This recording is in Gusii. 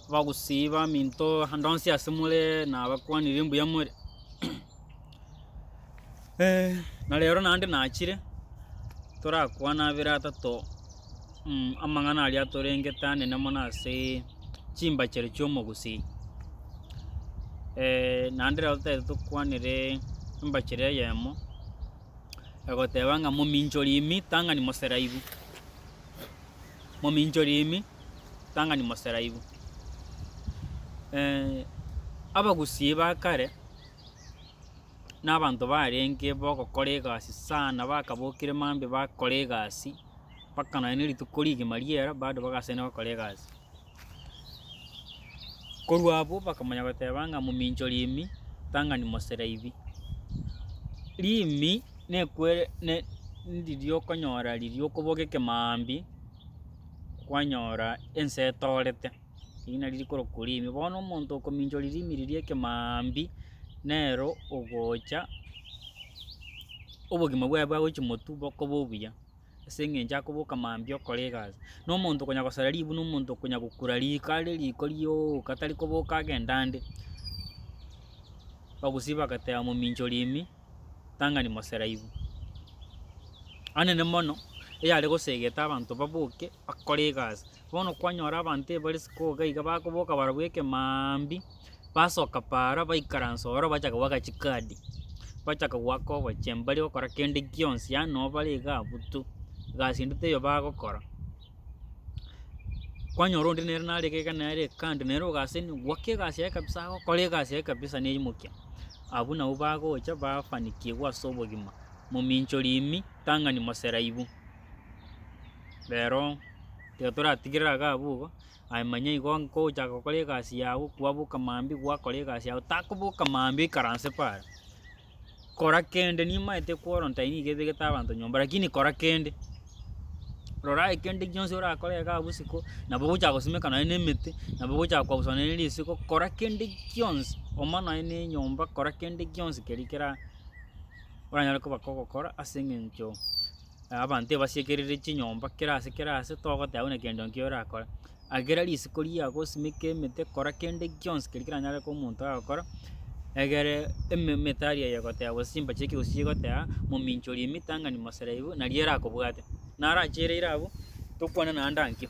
Abagusii baminto ande onsi ase more nabakwanire mbuya more, na rero naende nachire torakwane abere atato amang'ana aria atorengete anene mono asee chimbachere chiomogusii naende rero totaete tokwanere embachere eyemo egoteba ng'a mominchori imi tang'ani moseraibu. mominchori ime, ritang'ani moseraibu. abagusii ba kare, na abanto barenge bogokora egasi sana bakabokire maambia bakora egasi, mpaka nonya na rituko rigima riera bado bagasaini gokora egasi. Korwa abwo bakamonya goteba ng'a momincho Rimi, tang'ani Moseraibi. Rimi nekwere ne ndiria okonyora riria okoboka ekemambi kwanyora ense etorete, eri nari rikorokwa Rimi. Bono omonto okomincho Rimi riria ekemambi nero ogocha obogima bwaye bwagochia motu bokoba obuya. ase engencho akoboka mambia okora egasi. Na omonto okonya gosara ribu na omonto okonya gokura riko are riko rioka tari koboka agende ande. Bagusii bagateba momincha oria ime, tang'ani mosera ibu. Anene mono, eyare gosegete abanto baboke bakore egasi. Bono kwanyora abanto ebare siko iga iga bakoboka barabwo ekemaambi. Basoka paara baikaransa ororo bachaka goaka chikadi, bachaka goaka obochie mbari gokora kende gionsi yaani nabo bare iga abwo tu, egasi ende teiyo bagokora. Kwanyora onde nere nare iga iga nere kando nere ogaseni goaka egasi yaye kabisa agokora egasi yaye kabisa ne erimokia. Abwo nabo bagocha bafanikigwa ase obogima, mominchori ime tang'ani moseraibu. Rero tiga toratigere iga abwo igo. Aye manya igo ngochaka gokora egasi yao, kwaboka mambia gwakora egasi yao, takoboka mambia oikaranse paara. Kora kende nimaete kworonta eye nigo ebegete abanto nyomba lakini kora kende. Rora aye kende gionsi orakore iga bosiko, nabo ogochaka gosimeka nonye na emete, nabo ogochaka kwabusa nonye na risiko, kora kende gionsi, oma nonye na enyomba, kora kende gionsi keria kera oranyare koba kogokora ase eng'encho. Abanto ebasiekerire chinyomba kera ase kera ase togoteba buna kende nki orakore. Agera risiko riago osimeke emete kora kende gionsi keri keranyare korwa omonto agokora, egere eme emetari eye egoteba gose chimbache chie ekegusii chigoteba mominchorie emitang'ani mosereibu naria erakobwate. Naro achereire abwo, tokwana naende ankio.